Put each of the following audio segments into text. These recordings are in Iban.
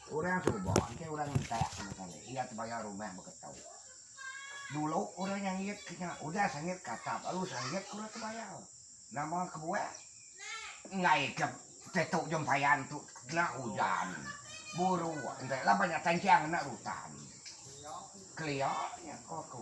Orang suba engkai orang entak sama kali iya tebayar rumah beketu. Dulu orang nyangit ke nya udah sangit ke atap lalu sangit ke orang tebayar. Nama kebuah? Enggai ke tetu jempayan tu kena ujan, buruk, enggai laban nya tanjang enda rutan. Kelia nya ko aku.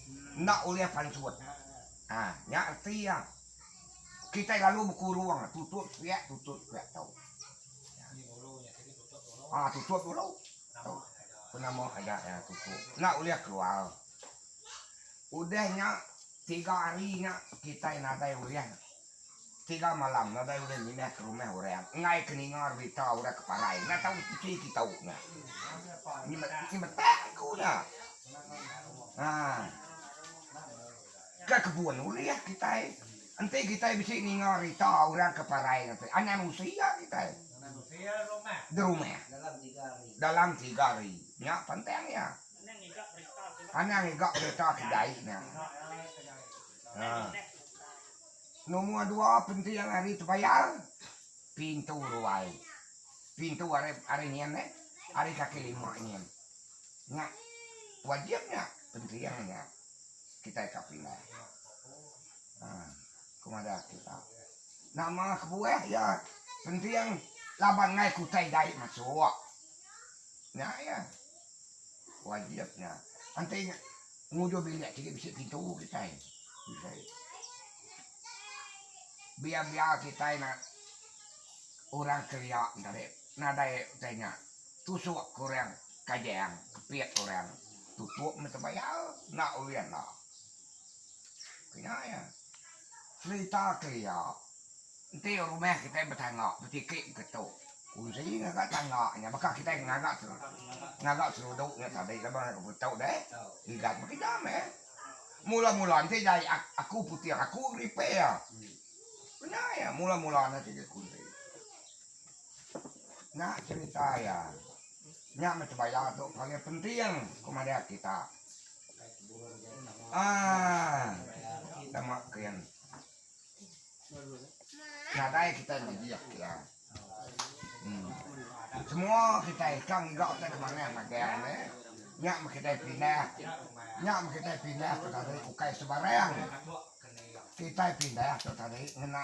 Enda ulih pansut. Ha, nya reti iya. Kitai lalu bekurung, tutup sepiak, tutup sepiak tau. Ha, tutup dulu. Tau. Penama aja iya tutup. Enda ulih keluar. Udah nya, tiga hari nya kitai nadai ulih Tiga malam nadai ulih mindah ke rumah orang enggai ke ninga berita orang ke parai enda tau enti ti tau nya. Nyi nyi metak ku nya. Ha. Ke kebun ulih kitai enti kitai bisi ninga berita orang ke parai ngagai anan usia kitai. Derumah. Dalam tiga hari. Nya pantang iya. Anang iga berita kedai nya. Ha. Numur dua penti yang ari tebayar pintu ruai. Pintu ari ari nyin eh ari kaki lima nyin. Nya wajib nya penti yang nya kitai ka pindah. Ha ku madah kita. Nama kebuah iya penti yang laban ngai kutai dai masuk. Nya iya. Wajib nya. Enti Penguduh bilik ti bisi pintu kitai. Biar-biar kitai nak orang kelia entari nadai utai nya. Tusuk ke orang kajang, kepit orang tutup meh tebayar enda ulih enda. Ku nya iya. Serita kelia Enti rumah kitai betangga betiki ke tu, kunsi ngaga tangga nya baka kitai ngaga ngaga seludu nya tadi laban ngaga ke tu deh igat baka indah meh. Mula-mula enti jai aku puting aku repair. Kena iya mula-mula enda sida kunsi. Nya cerita iya. Nya meh sebaya tu paling penting ku madah kita. Aa. Tama kin. Nadai kitai magi akia. Semua kitai ka enggau te kemanah magang ne. Nya meh kitai pindah. Nya meh kitai pindah tu tadi ukai sebarang. Kitai pindah tu tadi ngena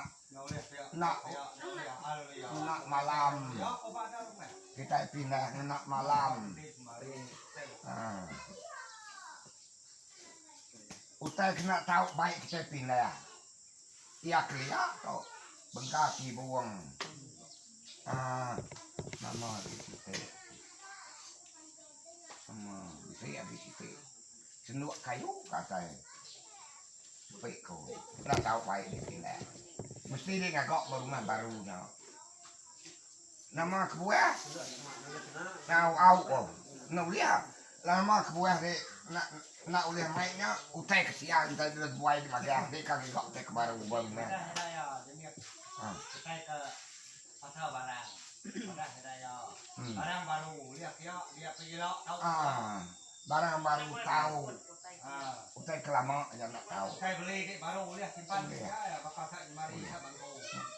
ena ena malam. Kitai pindah ngena malam. Ha. Utai ke enda tau bai kitai pindah iya kelia tu bengka ti buong aaa nama agi siti nama bisi agi siti sendok kayu ke atai tepi ku enda tau bai di pindah mesti di ngaga ba rumah baru nya nama kebuah tau au ko enda ulih. Lama kebuah ri enda enda ulih mai nya utai ke sia utai dulu tebuai di magang ri ka ngiga utai ke baru ba mina. Aa barang baru tau utai ke lama aja enda tau. Ulih ulih.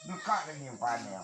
Engka lagi nyimpan iya.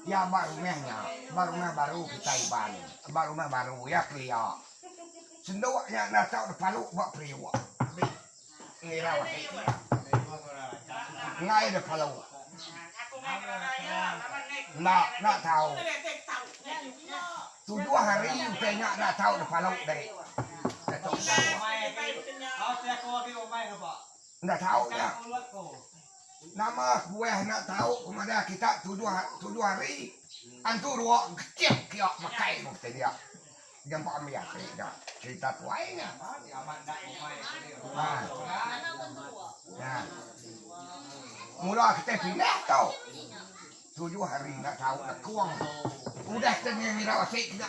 Iya ba rumah nya, ba rumah baru kitai Iban, ba rumah baru iya kelia. Sendok nya enda tau dipalu ba periuk ti ngirau ati iya. Enggai dipalu. Enda, enda tau. Tujuh hari utai nya enda tau dipalu deh. Datuk Sandok. Enda tau nya. Nama kuah enda tau ku madah kita tujuh tujuh hari antu dua kecih kia makai ku kata dia. Dia empa ambi ati nya cerita tuai nya. Nah. Nah. Mula kita pindah tu. Tujuh hari enda tau lekung. Udah kita ngira basi nya.